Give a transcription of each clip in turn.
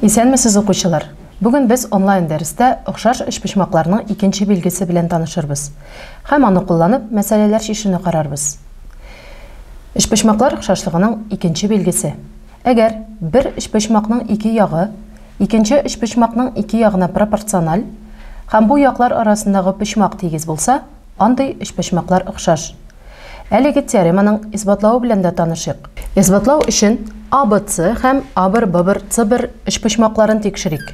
Исәнмесез, укучылар! Бүген без онлайн дәрестә охшаш өчпочмакларның икенче билгесе белән танышырбыз һәм аны кулланып мәсьәләләр чишүне карарбыз. Өчпочмаклар шашлыгының икенче билгесе. Әгәр бер өчпочмакның ике ягы икенче өчпочмакның ике ягына пропорциональ һәм бу яклар арасындагы почмак тигез булса, андый өчпочмаклар охшаш. Әлеге теореманың исбатлавы белән дә танышыйк. Исбатлау өчен ABC һәм Абр-ббр-цбр өчпочмакларын тикшерик.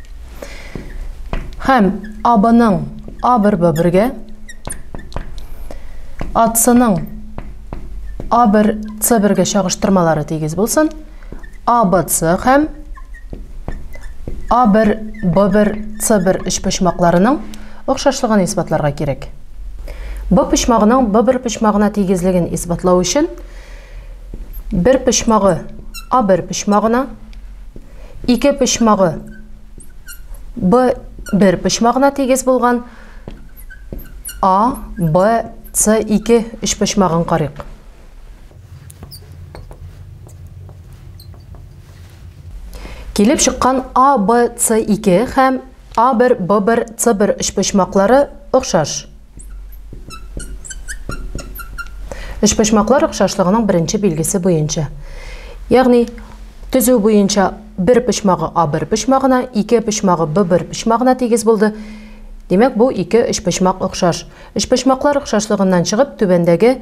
Һәм абының а бер б бергә, атсының а бер ц бергә чагыштырмалары тигез булсын. А б ц һәм а бер б бер ц бер өчпочмакларының охшашлыгын исбатларга кирәк. Б почмагының б бер почмагына тигезлеген исбатлау өчен бер почмагы а бер почмагына Ике почмагы Б бер почмагына тигез булган А, Б, С ике өч почмагын карыйк. Килеп чыккан А, Б, С ике һәм А бер, Б бер, С бер өч почмаклары охшаш. Өчпочмаклар охшашлыгының беренче билгесе буенча. Ягъни төзү буенча бер почмагы А бер почмагына, ике почмагы Б бер почмагына тигез булды. Димәк, бу ике өчпочмак охшаш. Өчпочмаклар охшашлыгыннан чыгып, түбәндәге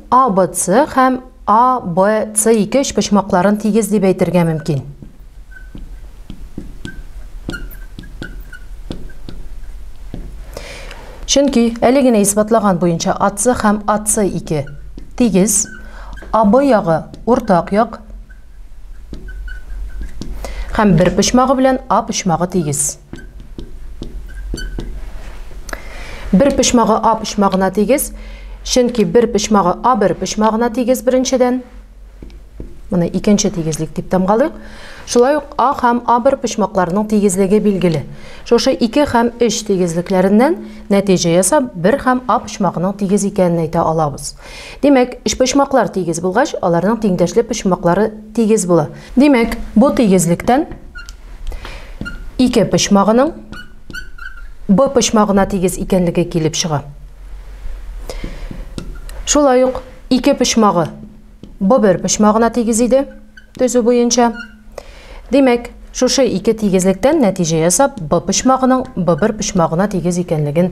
ABC һәм ABC ике өчпочмакларын тигез дип әйтергә мөмкин. Чөнки әле генә исбатлаган буенча AC һәм AC2 тигез, AB ягы уртак як, Һәм бер почмагы белән А почмагы тигез. Бер почмагы А почмагына тигез, чөнки бер почмагы А бер почмагына тигез беренчедән. Моны икенче тигезлек дип тамгалыйк. Шулай ук А һәм А бер почмакларының тигезлеге билгеле. Шушы 2 һәм 3 тигезлекләреннән нәтиҗә ясап, бер һәм А почмагының тигез икәнен әйтә алабыз. Димәк, өчпочмаклар тигез булгач, аларның тиңдәшле почмаклары тигез була. Димәк, бу тигезлектән ике почмагының Б почмагына тигез икәнлеге килеп чыга. Шулай ук ике почмагы Б бер почмагына тигез иде, төзү буенча. Димәк, шушы ике тигезлектән нәтиҗә ясап, Б почмагының Б бер почмагына тигез икәнлеген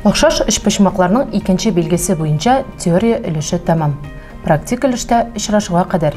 Охшаш өчпочмакларның икенче билгесе буенча теория өлеше тәмам. Практик өлештә очрашуга кадәр.